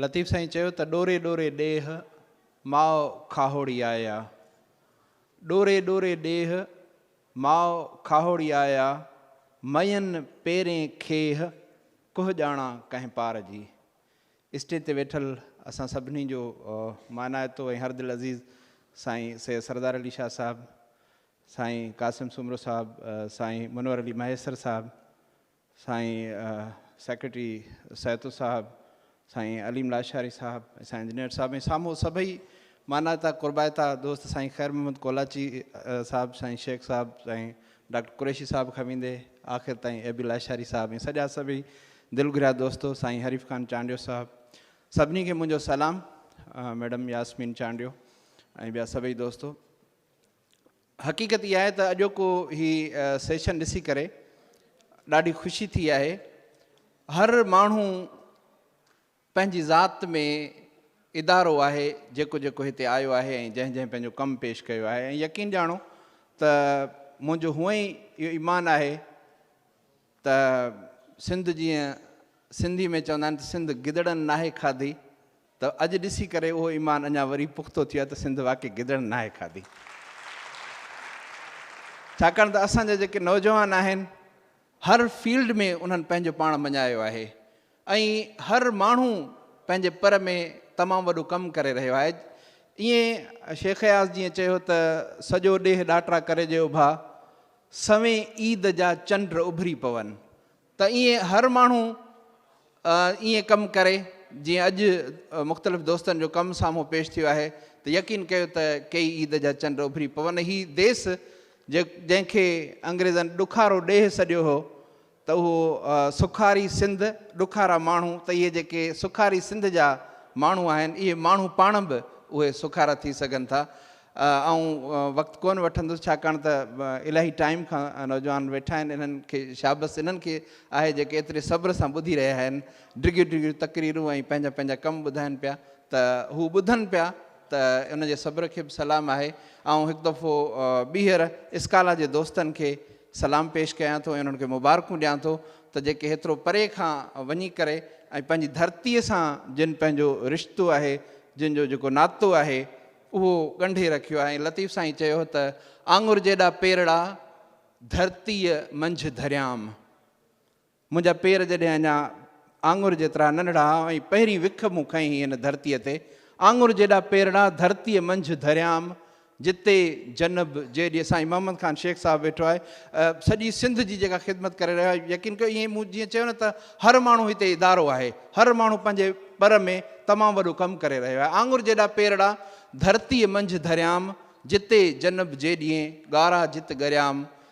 لطيف سائين چيو ته ڏوري ڏوري ڏيھ ماء کاهوڙي آيا ڏوري ڏوري ڏيھ ماء کاهوڙي آيا مئين پيرين کيھ ڪوھ ڄاڻا ڪنهن پار جي اسٽيج تي ويٺل اسان سڀني جو مانائتو ۽ هر دل عزيز سائين سيد سردار علي شاھ صاحب سائين قاسم سومرو صاحب سائين منور علي مهيسر صاحب سائين سيڪريٽري سيتو صاحب، سائين عليم لاشاري صاحب ۽ سائين انجنيئر صاحب ۽ سامهون سڀئي مانائتا قربائتا دوست سائين خير محمد ڪولاچي صاحب، سائين شيخ صاحب، سائين ڊاڪٽر قريشي صاحب کان ويندي آخر تائين اي بي لاشاري صاحب ۽ سڄا سڀئي دل گهريا دوستو، سائين حريف خان چانڊيو صاحب سڀني کي منهنجو سلام، ميڊم ياسمين چانڊيو ۽ ٻيا سڀئي دوستو. حقيقت اها آهي ته اڄوڪو هي سيشن ڏسي ڪري ڏاڍي خوشي ٿي آهي. هر ماڻهو پنهنجي ذات ۾ ادارو آهي جيڪو جيڪو هتي آيو آهي ۽ جنهن جنهن پنهنجو ڪم پيش ڪيو آهي ۽ يقين ڄاڻو ته منهنجو هونئن ئي اهو ايمان آهي ته سنڌ جيئن سنڌي ۾ چوندا آهن ته سنڌ گدڙن ناهي کاڌي ته اڄ ڏسي ڪري اهو ايمان اڃا وري پختو ٿيو آهي ته سنڌ واقعي گدڙن ناهي کاڌي ڇاڪاڻ ته اسان جا جيڪي نوجوان آهن هر فيلڊ ۾ انهن پنهنجو پاڻ مڃايو آهي ۽ هر ماڻهو پنهنجي پر ۾ تمام وڏو ڪم ڪري رهيو آهي. ائين شيخ اياز جيئن چيو ته سڄو ڏيهه ڏاٽرا ڪري جي اڀا سوين عيد جا چنڊ اڀري پون ته ائين هر ماڻهو ائين ڪم ڪري جيئن اڄ مختلف دوستن جو ڪم سامهون پيش ٿيو آهي ته يقين ڪيو ته ڪيئي عيد جا چنڊ اڀري پون هي ديس جنهن کي انگريزن ڏکارو ڏيهه سڏيو هو ته اهو سکاري سنڌ ڏکارا ماڻهو ته اهي جيڪي سکاري سنڌ جا ماڻهو آهن اهي ماڻهو پاڻ به اهي سکارا ٿي سگهن ٿا. آئون وقت ڪونه وٺندس ڇاڪاڻ ته الاهي ٽائيم کان نوجوان ويٺا آهن انهن کي شابس انهن کي آهي جيڪي ايتري صبر سان ٻڌي رهيا آهن ڊگهيون ڊگهيون تقريرون ۽ پنهنجا پنهنجا ڪم ٻڌائن پيا ته هو ٻڌن پيا ته ان جي صبر کي به سلام آهي. آئون هڪ دفعو ٻيهر اسڪالا جي دوستن کي سلام پيش ڪيان ٿو ۽ انهن کي مبارڪون ڏيان ٿو ته جيڪي هيترو پري کان وڃي ڪري ۽ پنهنجي ڌرتيء سان جن پنهنجو رشتو آهي، جن جو جيڪو ناتو آهي اهو ڳنڍي رکيو آهي ۽ لطيف سائين چيو ته آڱر جيڏا پيرڙا ڌرتيء منجهه ڌريام. منهنجا پير جڏهن اڃا آڱر جيترا ننڍڙا ها ۽ پهرين وک مون کنئي هئي هن ڌرتيء تي، آڱر جيڏا پيرڙا ڌرتيء منجهه ڌريام، جتي جنب جي ڏي سائين محمد خان شيخ صاحب ويٺو آهي، سڄي سنڌ جي جيڪا خدمت ڪري رهيو آهي، يقين ڪيو ائين مون جيئن چيو نه ته هر ماڻهو هتي ادارو آهي، هر ماڻهو پنهنجي پر ۾ تمام وڏو ڪم ڪري رهيو آهي، آڱر جيڏا پيرڙا ڌرتيء منجهه ڌريام، جتي جنب جي ڏي ڳارا جت ڳريام،